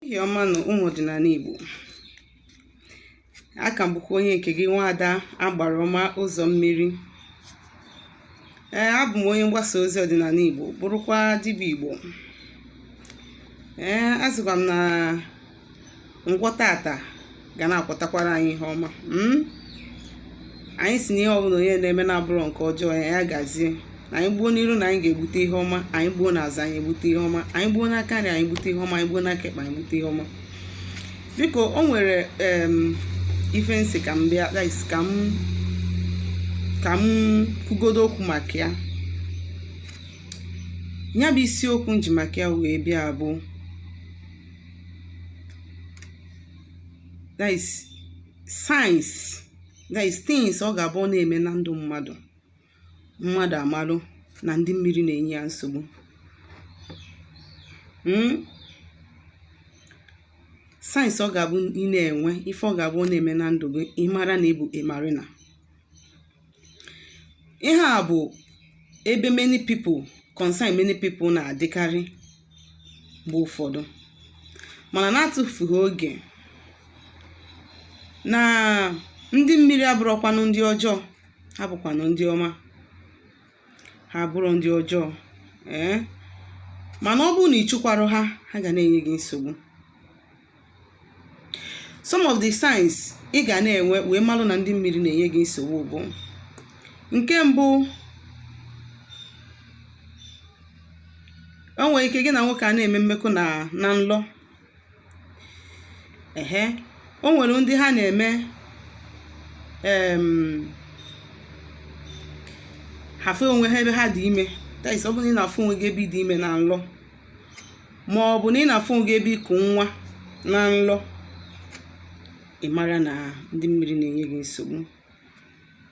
ehihie ọma nụ ụmụ ọdịnala Igbo aka m bụkwa onye nke gị nwaada agbara ọma ụzọ mmiri ee abụ m onye mgbasa ozi ọdịnala Igbo bụrụkwa dibịa Igbo ee asịkwa m na Nkwọ taata ga na-akwọtakwara anyị ihe ọma hmm? anyị sị na ihe ọbụla onye na-eme na-abụrọ nke ọjọọ ya gazie na anyị gbuo n'iru na anyị ga-egbute ihe ọma anyị gbuo n'azụ anyị egbute ihe ọma anyị gbuo n'aka nri anyị gbute ihe ọma anyị gbuo n'aka ekpe anyị gbute ihe ọma biko o nwere ife m sị ka m bịa ka m ka m kwugodo okwu maka ya ya bụ isiokwu m ji maka ya wee bịa bụ that is signs that is things ọ ga-abụ ọ na-eme na ndụ mmadụ mmadụ amalụ na ndị mmiri na-enye ya nsogbu hmm? signs ọ ga-abụ ị na-enwe ife ọ ga-abụ ọ na-eme na ndụ gị ị mara na ị bụ ị marụ na ihe a bụ̀ ebe many people concern many people nà-àdịkarị m̀gbe ụ̀fọdụ mànà na-atụ̇fùghì ogè nà ndị mmiri abụrọkwanụ ndị ọjọọ ha bụ̀kwànụ ndị ọma ha abụrọ ndị ọjọọ ee mànà ọ bụrụ nà ị chụkwarọ ha ha gà na-ènye gị nsògbu some of the signs ị ga na-enwe wee malụ na ndị mmiri na-enye gị nsogbu bụ nke mbụ o nwere ike gị na nwoke ana-eme mmekọ na nlọ ehe o nwere ndị ha na-eme em, ha afụ onwe ha ebe ha dị ime that is ọ bụrụ na ị na-afụ onwe gị ebe ị dị ime na nlọ ma ọ bụ na ị na-afụ onwe gị ebe i ku nwa na nlọ ị mara na ndị mmiri na-enye gị nsogbu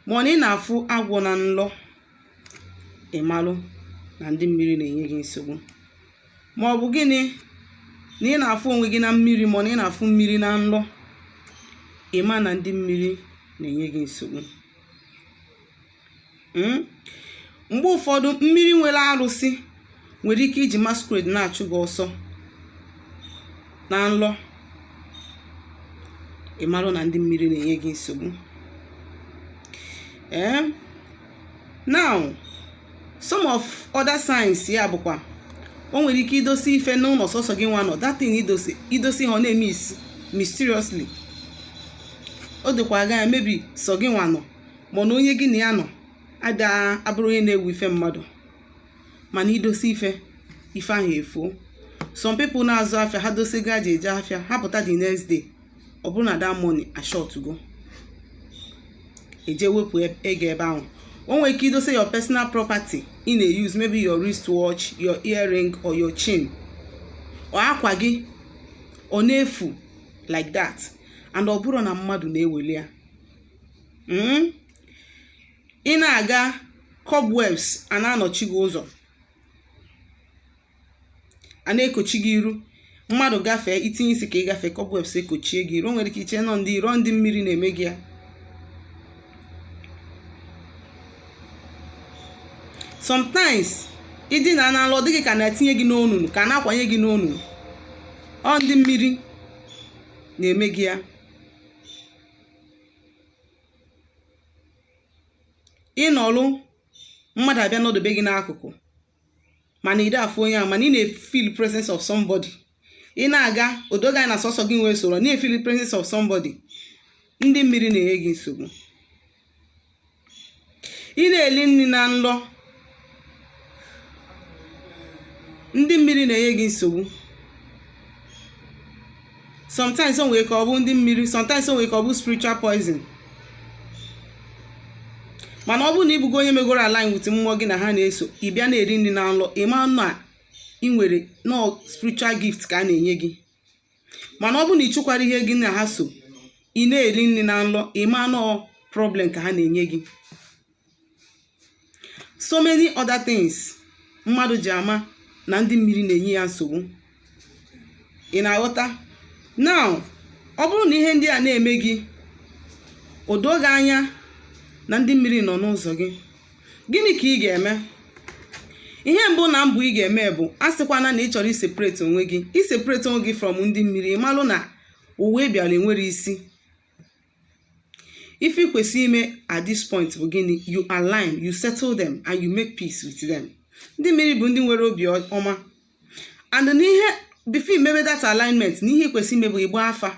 ma ọ na ị na-afụ agwọ na nlọ ị malụ na ndị mmiri na-enye gị nsogbu ma ọ bụ gịnị na ị na-afụ onwe gị na mmiri ma ọ na ị na-afụ mmiri na nlọ ị ma na ndị mmiri na-enye gị nsogbu Mm? mgbe ụfọdụ mmiri nwere arụsị nwere ike iji masquerade na-achụ gị ọsọ na nlọ ị marụ na ndị mmiri na-enye gị nsogbu ee now some of other signs ya bụkwa o nwere ike i dosi ife n'ụlọ sọsọ gị nwa nọ that thing i dosi ha ọ na-emiss mysteriously o dokwa aga ya mebi sọ gị nwa nọ mana onye gị na ya nọ abụrọ onye na-ewu ife mmadụ mana i dosa ife ife ahụ efuo some people na-azụ afịa ha dosa ego ha ji eje afịa ha pụta the next day ọ bụrụ na that money ashortgo e jee wepụ ego ebe ahụ o nwere ike idosa your personal property ị na-use maybe your wristwatch your earring or your chain or akwa gị ọ na-efu like that and ọ bụrọ na mmadụ na-eweli ya hmm? ị na-aga cobwebs a na-anọchi gị ụzọ a na-ekochi gị iru mmadụ gafee i tinye isi ka ị gafee cobwebs ekochie gị iru o nwere ike iche na ọ ndị iro ọ ndị mmiri na-eme gị ya sometimes ị dina n'ala ọ dị gị ka a na-etinye gị n'onunu ka a na-akwanye gị n'onunu ọ ndị mmiri na-eme gị ya ị nọlụ mmadụ abịa nọdobe gị n'akụkụ mana ị da afụ onye ahụ mana ị na-efeel presence of somebody ị na-aga o doo gị anya na sọsọ gị nwa esoro na-efeel presence of somebody ndị mmiri na-enye gị nsogbu ị na-eli nri na nlọ ndị mmiri na-enye gị nsogbu sometimes o nwere ike ọ bụ ndị mmiri sometimes o nwere ike ọ bụ spiritual poison mana ọ bụrụ na ị bụgo onye megoro align with mmụọ gị na ha na-eso ị bịa na-eli nri na nlọ ị ma na ị nwere na ọ spiritual gift ka a na-enye gị mana ọ bụrụ na ị chụkwara ihe gị na ha so ị na-eli nri na nlọ ị ma na ọ problem ka ha na-enye gị so many other things mmadụ ji ama na ndị mmiri na-enye ya nsogbu ị na-aghọta now ọ bụrụ na ihe ndị a na-eme gị o doo gị anya na ndị mmiri nọ n'ụzọ gị gịnị ka ị ga-eme ihe mbụ na mbụ ị ga-eme bụ asịkwana na ị chọrọ iseparate onwe gị iseparate onwe gị from ndị mmiri ị malụ na ụwa ị bịara enwerọ isi ife ị kwesịrị ime at this point bụ gịnị you align you settle them and you make peace with them ndị mmiri bụ ndị nwere obi ọma and n'ihe before i mebe that alignment na ihe ị kwesịrị ime bụ ịgba afa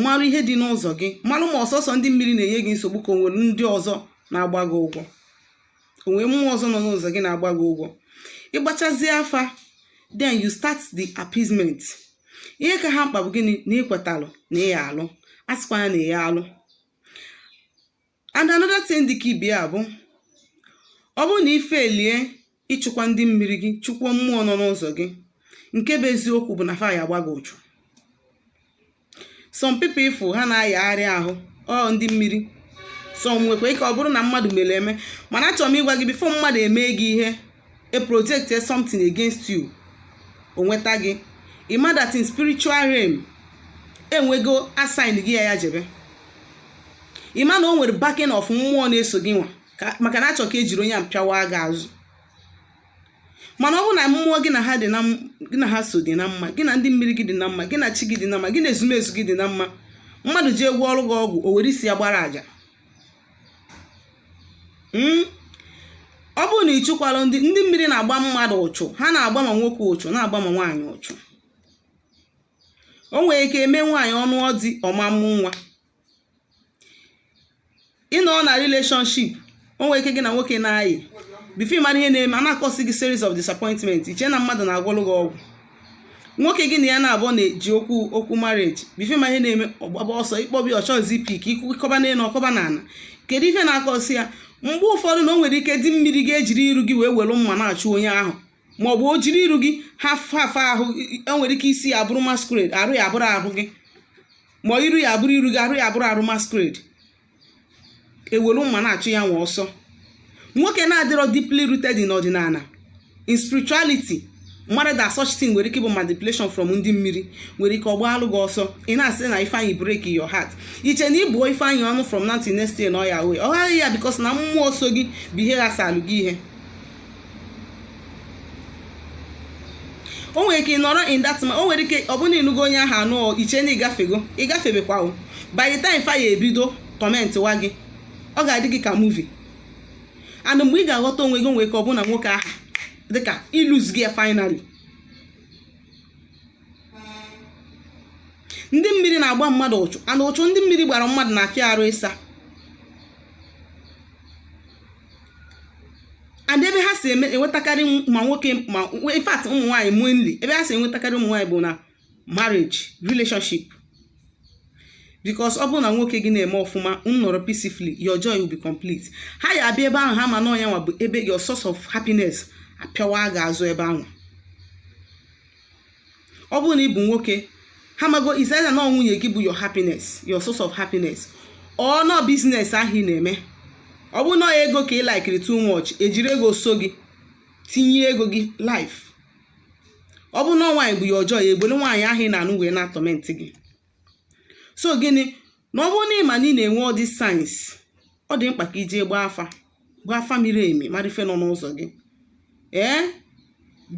malụ ihe dị n'ụzọ gị malụ ma ọ sọsọ ndị mmiri na-enye gị nsogbu ka o nwere ndị ọzọ na-agba gị ụgwọ o nwere mmụọ ọzọ nọ n'ụzọ gị na-agba gị ụgwọ ị gbachazie afa then you start the appeasement ihe ka ha mkpa bụ gịnị na i kwetalụ na ị ya-alụ asịkwana na ị ya-alụ and another thing dị ka ibe ya bụ ọ bụrụ na ị failie ịchụkwa ndị mmiri gị chụkwuo mmụọ nọ n'ụzọ gị nke bụ eziokwu bụ na fa ya agba gị ụchụ some people ị fụ ha na-ayagharị ahụ ọ ndị mmiri some nwekwa ike ọ bụrụ na mmadụ mere eme mana achọrọ m ịgwa gị before mmadụ emee gị ihe e projectie something against you o nweta gị ị ma that in spiritual realm enwego assign gị ya ya jebe ị ma na o nwere backing of mmụọ na-eso gị nwa ka- maka na achọ ka ejiri onye a pịawa gị azụ mana ọ bụ na mmụọ gị na ha dị na m- gị na ha so dị na mma gị na ndị mmiri gị dị na mma gị na chi gị dị na mma gị na ezumezu gị dị na mma mmadụ je gwọọrụ gị ọgwụ o were isi ya gbara aja hmm? ọ bụrụ na ị chụkwarọ ndị ndị mmiri na-agba mmadụ ụchụ ha na-agba ma nwoke ụchụ na-agba ma nwaanyị ụchụ o nwere ike e mee nwaanyị ọ nụọ di ọ ma-amụ nwa ị nọọ na relationship o nwere ike gị na nwoke na-ayị before ị mara ihe na-eme a na-acause gị series of disappointment i chee na mmadụ na-agwọlụ gị ọgwụ nwoke gị na ya naabọ na-eje ikwu okwu marriage before ị ma ihe na-eme ọ gbaba ọsọ ị kpọbe ọ chọzị ịpick ị kọba n'elu ọ kọba n'ala kedu ife na-acause ya mgbe ụfọdụ na o nwere ike di mmiri gị ejiri iru gị wee were mma na-achụ onye ahụ ma ọ bụ o jiri iru gị half half ahụ o nwere ike isi ya abụrụ masquerade arụ ya abụrụ ahụ gị ma iru ya abụrụ iru gị arụ ya abụrụ arụ masquerade ewere mma na-achụ ya nwa ọsọ nwoke na-adịrọ deeply rooted in ọdịnala in spirituality mara that such thing nwere ike ịbụ manipulation from ndị mmiri nwere ike ọ gbaalụ gị ọsọ ị na-asị na ifeanyị break your heart i chee na ị bụọ ifeanyị ọnụ from now till next year na ọ ya wee ọ ghaghị ya because na mmụọ so gị bụ ihe ghasalụ gị ihe o nwere ike ị nọrọ in that man o nwere ike ọ bụrụ ị nụgo onye ahụ anụ i chee na ị gafego ị gafebekwa o by the time fa ya-ebido tormentịwa gị ọ ga-adị gị ka movie and mgbe ị ga-aghọta onwe gị nwere ike ọ bụrụ na nwoke ahụ dịka ilose gị finally ndị mmiri na-agba mmadụ ụchụ and ụchụ ndị mmiri gbara mmadụ na-afịa arụ ịsa and ebe ha si eme enwetakarị ma nwoke ma in fact ụmụ nwaanyị mainly ebe ha si enwetakarị ụmụ nwaanyị bụ na marriage relationship because ọ bụrụ na nwoke gị na-eme ọfụma unu nọrọ peacefully your joy will be complete ha ya-abịa ebe ahụ ha ma na onye nwa bụ ebe your source of happiness apịawa gị azụ ebe ahụ ọ bụrụ na ị bụ nwoke ha mago is either na nwunye gị bụ your happiness your source of happiness or na ọ business ahụ ị na-eme ọ bụrụ na ego ka ị likiri too much ejiri ego so gị tinye ego gị life ọ bụrụ na nwaanyị bụ your joy ebulu nwaanyị ahụ ị na-anụ wee na-atorment gị so gịnị na ọ bụrụ na ị ma na ị na-enwe all these signs ọ dị mkpa ka i jee gbaa afa gbaa afa miri emi mara ife nọ n'ụzọ gị ee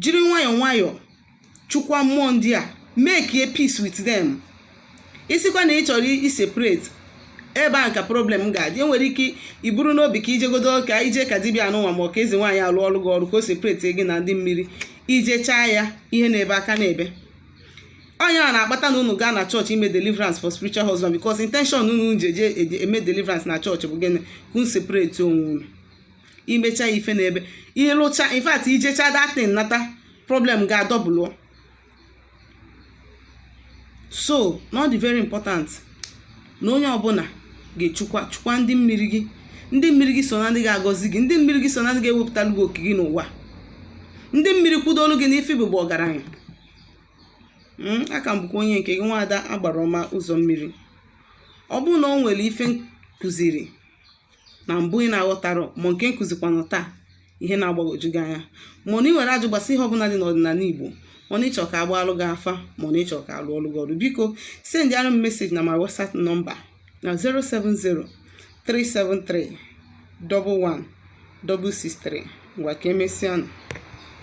jiri nwayọọ nwayọọ chụkwa mmụọ ndị a make a peace with them ị sịkwa na ị chọrọ i separate ebe a ka problem ga-adị enwere ike iburu n'obi ka i jegodo ka i je ka dibịa anụnwa ma ọ ka eze nwaanyị a lụọrọ gị ọrụ ka o separate gị na ndị mmiri i jechaa ya ihe na-ebe aka na-ebe ọ nya na-akpata na unu gaa na chọọchị ime deliverance for spiritual husband because intention unu ji eje eme deliverance na chọọchị bụ gịnị ka unu separate onwe unu i mecha ya ife na-ebe ị lụcha in fact i jecha that thing nata problem ga-adouble so na ọ dị very important na onye ọbụla ga-echukwa chukwa ndị mmiri gị ndị mmiri gị so na ndị ga-agọzi gị ndị mmiri gị so na ndị ga-ewepụtalụ gị oke gị n'ụwa ndị mmiri kwụdolu gị n'ife bụ ọgaranya Mm, a ka m bụkwa onye nke gị nwaada agbara ọma ụzọ mmiri ọ bụrụ na o nwere ife m kụziri na mbụ ị na-aghọtara ma nke m kụzikwanụ taa ihe na-agbagwoju gị anya ma na i nwere ajụ gbasa ihe ọbụla dị n'ọdịnala Igbo ma na ị chọ ka a gbaalụ gị afa ma na ị chọ ka a lụọlụ gị ọlụ biko sendịara m message na my WhatsApp number na 070 373 11 663 ngwa ka emesịanụ